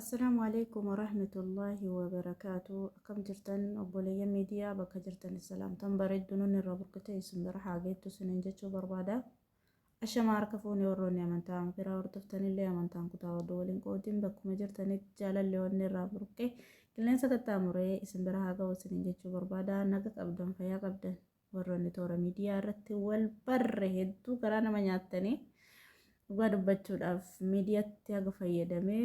Assalaamu alaikum warahmatullaahi wabarakaatu akkam jirtan obboleeyyan miidiyaa bakka jirtan salaamtan bareeddu nun irraa burkutee isin bira haa geettu isiniin jechuu barbaada Ashamaa harka fuune warroonni amantaa amma biraa hordoftanillee amantaan kutaa oduu waliin qoodin bakkuma jirtanitti jaalalli onnee irraa burqee qilleensa qaxxaamuree isin bira haa ga'u isiniin jechuu barbaada naga qabdan fayyaa qabdan warroonni toora miidiyaa irratti wal barre hedduu garaa nama nyaattanii dhugaa dubbachuudhaaf miidiyaatti haga fayyadamee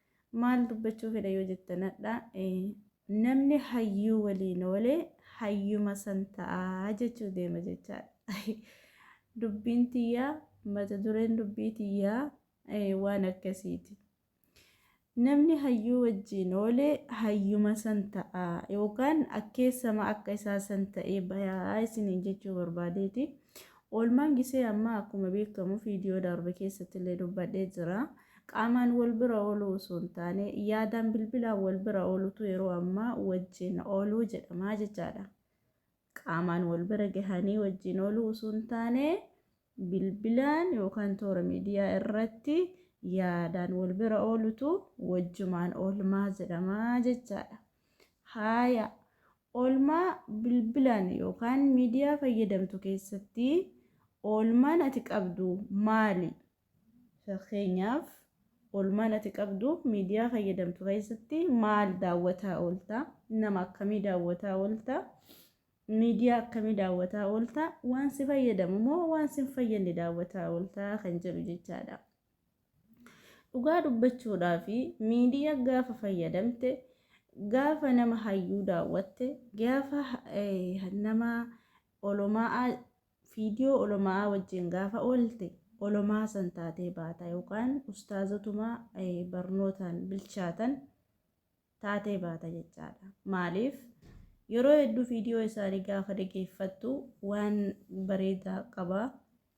Maal dubbachuu fedha yoo jettan hadha namni hayyuu waliin oole hayyuma san ta'a jechuu deema jechaadha. Dubbiin tiyyaa mata dureen dubbii tiyyaa waan akkasiiti. Namni hayyuu wajjiin oole hayyuma san ta'a yookaan akkeessama akka isaa san ta'ee bayaa isiniin jechuu barbaadeeti. Oolmaan gisee ammaa akkuma beekamu viidiyoo darbe keessatti illee dubbadhee jira. Qaamaan wal bira ooluu osoo hin taane, yaadaan bilbilaan wal bira oolutu yeroo ammaa wajjin ooluu jedhama jechaadha. Qaamaan wal bira gahanii wajjin ooluu osoo hin taane, bilbilaan yookaan toora miidiyaa irratti yaadaan wal bira oolutu wajjumaan oolmaa jedhama jechaadha. Haaya, oolmaa bilbilaan yookaan miidiyaa fayyadamtu keessatti oolmaan ati qabdu maali? Fakkeenyaaf, oolmaan ati qabdu miidiyaa fayyadamtu keessatti maal daawwataa oolta? Nama akkamii daawwataa oolta? Miidiyaa akkamii daawwataa oolta? Waan si fayyadamu moo waan si hin fayyadne daawwataa oolta kan jedhu jechaadha. Dhugaa dubbachuudhaa fi miidiyaa gaafa fayyadamte, gaafa nama hayyuu daawwatte, gaafa nama olomaa Viidiyoo oloma'aa wajjiin gaafa oolte olomaa san taatee baata yookaan ustaazotuma barnootaan bilchaatan taatee baata jechaadha. Maaliif yeroo hedduu viidiyoo isaanii gaafa dhageeffattu waan bareedaa qaba,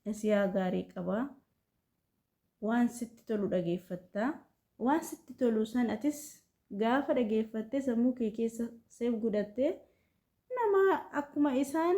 nasiyaa gaarii qaba, waan sitti tolu dhageeffatta. Waan sitti tolu san atis gaafa dhageeffattee sammuu kee keessa seef godhattee nama akkuma isaan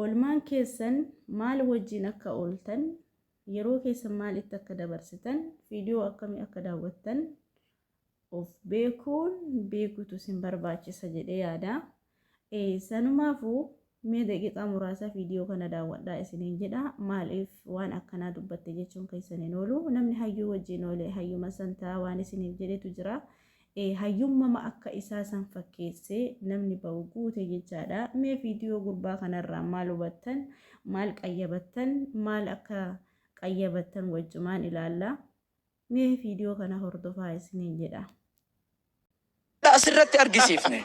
Oolmaan keessan maal wajjin akka ooltan, yeroo keessan maal itti akka dabarsitan, viidiyoo akkamii akka daawwattan of beekuun beekuutu isin barbaachisa jedhee yaada. Sanumaafuu mee daqiiqaa muraasaa viidiyoo kana daawwadhaa isiniin jedha. Maaliif waan akkanaa dubbatte jechuun keessan hin oolu. Namni hayyuu wajjin oole hayyuma santaa waan isiniif jedhetu jira. Ee hayyummama akka isaa san fakkeesse namni ba'u guute jechaadha mee viidiyoo gurbaa kanarraa maal hubattan maal qayyabattan maal akka qayyabattan wajjumaan ilaalla mee viidiyoo kana hordofaa isiniin jedha. Asirratti argisiifne.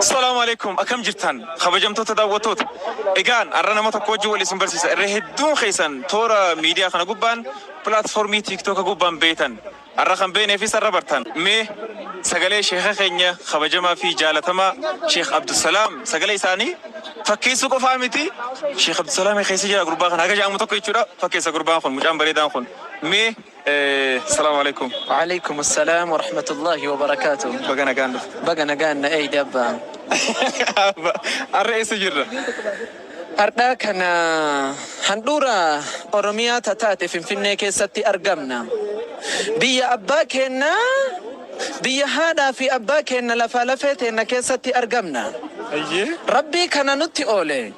Assalaamu Aleeykum akkam jirtan kabajamtoota daawwattoota egaan har'a nama tokko wajjin wal isin barsiisa irra hedduun keessan toora miidiyaa kana gubbaan platformii tiktoka gubbaan beeytan har'a kan beeyneefis har'a bartan mee sagalee sheeka keenya kabajamaa fi jaalatamaa sheek Abdusalaam sagalee isaanii fakkeessuu qofaa miti sheek Abdusalaam keessa jira gurbaa kana haga ja'amu tokko jechuudha fakkeessa gurbaan kun mucaan bareedaan kun mee Salaam Aleeykum. Wa'aleeykum Assalaam Warahmatullaahi Wabarakaatuh. Baga nagaan dhufte. Baga nagaan na eeyde abbaa. Abba arra eessa jirra? Ardhaa kana handhuura Oromiyaa ta taate Finfinnee keessatti argamna. Biyya abbaa keenna, biyya haadhaa fi abbaa keenna lafaa lafee teenna keessatti argamna. Eyyee. Rabbii kana nutti oole.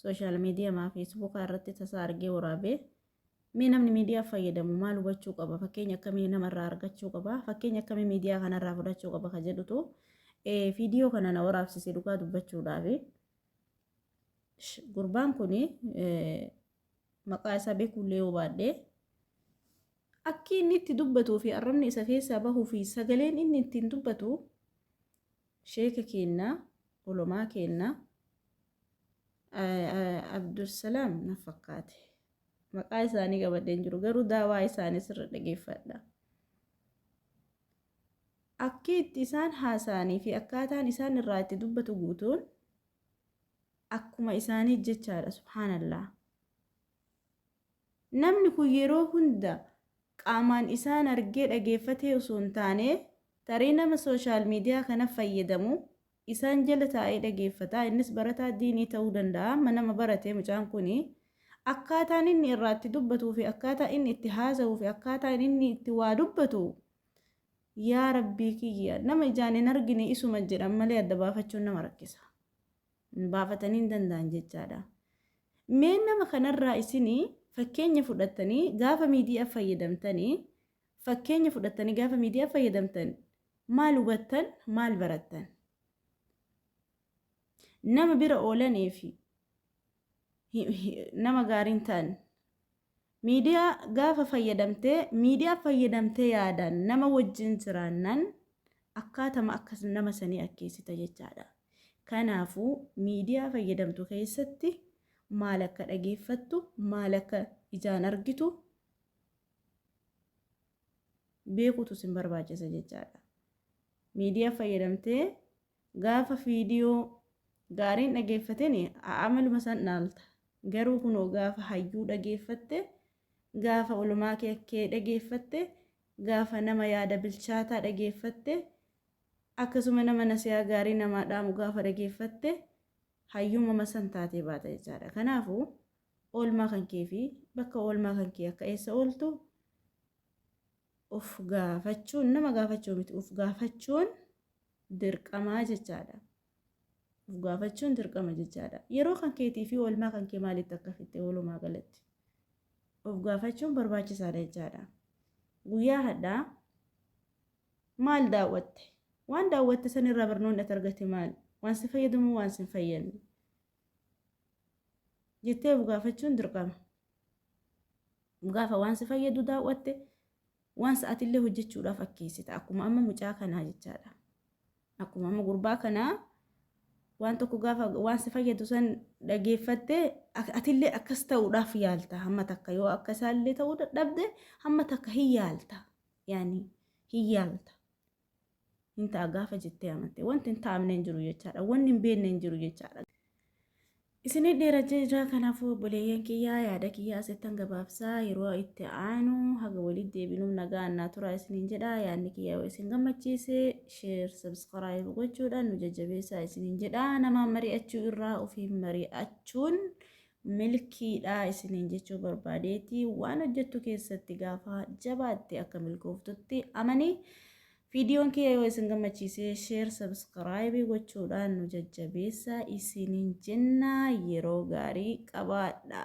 Sooshaal miidiyamaa feesbuukaa irratti tasaa argee waraabe. Mee namni miidiyaa fayyadamu maal hubachuu qaba? Fakkeenya akkamii namarraa argachuu qaba? Fakkeenya akkamii miidiyaa kanarraa fudhachuu qaba ka jedhutu viidiyoo kana na waraabsise dhugaa dubbachuudhaafi. Gurbaan kun maqaa isaa beekuullee yoo baadhee akki inni itti dubbatuu fi arrabni isa keessaa bahuu fi sagaleen inni ittiin dubbatu Sheeka keennaa, ulamaa keennaa, Abdulsalaam na fakkaate. Maqaa isaanii qabadhee hin jiru garuu daawaa isaanii sirra dhageeffadha. Akki itti isaan haasa'anii fi akkaataan isaan irraa itti dubbatu guutuun akkuma isaanii jechaadha subhaanallah. Namni kun yeroo hunda qaamaan isaan argee dhageeffatee osoo hin taane, tarii nama social media kana fayyadamu isaan jala taa'ee dhageeffata. Innis barataa diinii ta'uu danda'a. Amma nama barate mucaan kun. Akkaataan inni irraa itti dubbatuu fi akkaataa inni itti haasa'uu fi akkaataan inni itti waa dubbatu yaa rabbii kiyya nama ijaan hin argine isuma jedhan malee adda baafachuun nama rakkisa. baafatanii hin danda'an jechaadha. Mee nama kanarraa isin fakkeenya fudhattanii gaafa miidiyaa fayyadamtanii fakkeenya fudhattanii gaafa miidiyaa fayyadamtan maal hubattan maal barattan? Nama bira oolanii fi nama gaariin ta'an Miidiyaa gaafa fayyadamte, miidiyaa fayyadamte yaadaan nama wajjin jiraannan akkaatama akka nama sanii akkeessita jechaadha. Kanaafu miidiyaa fayyadamtu keessatti maal akka dhageeffattu, maal akka ijaan argitu beekutu sin barbaachisa jechaadha. Miidiyaa fayyadamtee Gaafa viidiyoo gaariin dhageeffateni amaluma san dhaalta. Garuu kunoo gaafa hayyuu dhageeffatte, gaafa ulumaa kee dhageeffatte, gaafa nama yaada bilchaataa dhageeffatte, akkasuma nama nasiyaa gaarii namaa dhaamu gaafa dhageeffatte hayyuumama san taatee baata jechaadha. Kanaafu oolmaa kan kee fi bakka oolmaa kan kee akka eessa ooltu Of gaafachuun nama gaafachuu miti. Of gaafachuun dirqamaa jechaadha. Of gaafachuun dirqama jechaadha. Yeroo kan keetii fi oolmaa kan kee maalitti akka fixxe walumaa galatti. Of gaafachuun barbaachisaadha jechaadha. Guyyaa hadhaa maal daawwatte? Waan daawwatte sanirraa barnoonni ati argatte maali? Waan si fayyadu moo waan si hin fayyadne? jettee of gaafachuun dirqama. Gaafa waan si fayyadu daawwatte waan sa'aatillee hojjechuudhaaf akkeessita. Akkuma amma mucaa kanaa jechaadha. Akkuma amma gurbaa kanaa waan tokko gaafa waan si fayyadu san dhageeffattee atillee akkas ta'uudhaaf yaalta. Hamma takka yoo akka isaallee ta'uu dadhabde hamma takka hin yaalta. Yaani hin yaalta. hin ta'a gaafa jettee amante wanti hin taa'amne hin jiru jechaadha wanni hin beekne hin jiru jechaadha. Isinii dheera jira kanaafuu obboleeyyan kiyyaa yaada kiyyaa asittan gabaabsaa yeroo itti aanu haga walitti deebinuuf nagaa annaa turaa isiniin jedha yaadni kiyyaa yoo isin gammachiise sheer sabskiraayib gochuudhaan nu jajjabeessaa isiniin jedha namaan mari'achuu irraa ofiin mari'achuun milkiidha isiniin jechuu barbaadeeti waan hojjettu keessatti gaafa jabaatte akka milkooftutti amanii viidiyoon kiyya yoo isin gammachiise sheer sabskraayibii gochuudhaan nu jajjabeessa isiniin jenna yeroo gaarii qabaadha.